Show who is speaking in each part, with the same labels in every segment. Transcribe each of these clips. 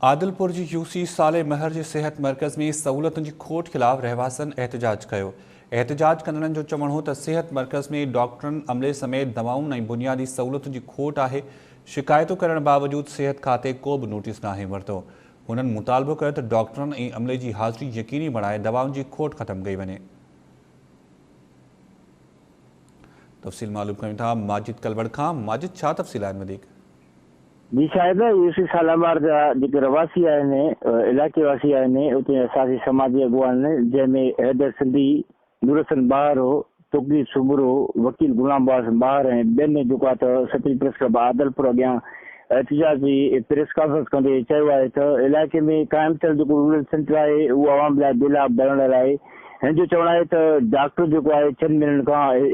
Speaker 1: عادلپور جي U C Saleh Mahar جي صحت مرڪز ۾ سهولتن جي کوٽ خلاف رهواسين احتجاج ڪيو. احتجاج ڪندڙن جو چوڻ هو ته صحت مرڪز ۾ ڊاڪٽرن، عملي سميت دوائن ۽ بنيادي سهولتن جي کوٽ آهي. شڪايتون ڪرڻ باوجود صحت کاتي ڪو به نوٽيس ناهي ورتو. هنن مطالبو ڪيو ته ڊاڪٽرن ۽ عملي جي حاضري يقيني بڻائي دوائن جي کوٽ ختم ڪئي وڃي. تفصيل معلوم ڪيون ٿا ماجد ڪلوڙ کان ماجد ڇا تفصيل آهن وڌيڪ. جي
Speaker 2: شايد يوسف شالامار جا جيڪي رھواسي آھن، علائقي واسي آھن، اتي اساسي سماجي اڳواڻن جنھن ۾ حيدر سنڌي، نورحسن ٻاھرو، توقير سومرو، وڪيل غلام عباس ٻاھر ۽ ٻين جوڪا ته سترين پريس ڪلب عادلپور اڳيان احتجاج جي پريس ڪانفرنس ڪندي چيو آھي ته علائقي ۾ قائم ٿيل جيڪو رورل سينٽر آھي اھو عوام لاء بي لاڀ بڻڻ لاء ھن جو چوڻ آھي ته ڊاڪٽر جيڪو آھي چئن مھينن کان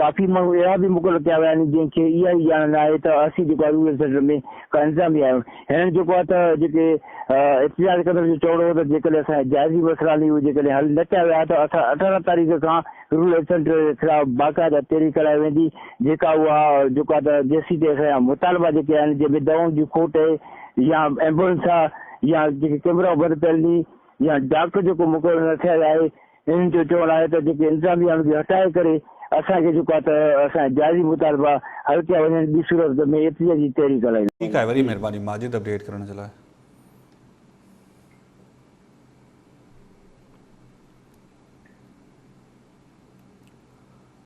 Speaker 2: ڪافي ماڻهو اهڙا به مقرر ڪيا ويا آهن جنهن کي اها ئي ڄاڻ نه آهي ته اسين جيڪو آهي رورل سينٽر ۾ ڪا انتظاميه آهيون. هنن جيڪو آهي ته جيڪي احتجاج ڪندڙن جو چوڻ هو ته جيڪڏهن اسان جا جائزي مسئلا آهن اهي جيڪڏهن حل نه ڪيا ويا ته اسان اٺارهن تاريخ کان رورل سينٽر جي خلاف باقاعده تحريڪ ڪرائي ويندي جيڪا اها جيڪو آهي ته جيسين تائين اسان جا مطالبا جيڪي آهن جنهن ۾ دوائن جي کوٽ اهي يا ايمبولنس آهي يا جيڪي ڪيمرا بند پيل ني يا ڊاڪٽر جيڪو مقرر نه ٿيل آهي انهن جو چوڻ آهي ته جيڪي انتظاميه ان کي هٽائي ڪري اسان کي جيڪو آهي ته اسان جا جائزي مطالبا حل ڪيا
Speaker 1: وڃن
Speaker 2: ٻي
Speaker 1: صورت
Speaker 2: ۾ احتجاجي تحريڪ
Speaker 1: هلائينداسين.
Speaker 2: ٺيڪ آهي
Speaker 1: وڏي
Speaker 2: مهرباني ماجد
Speaker 1: اپڊيٽ
Speaker 2: ڪرڻ
Speaker 1: جي لاء.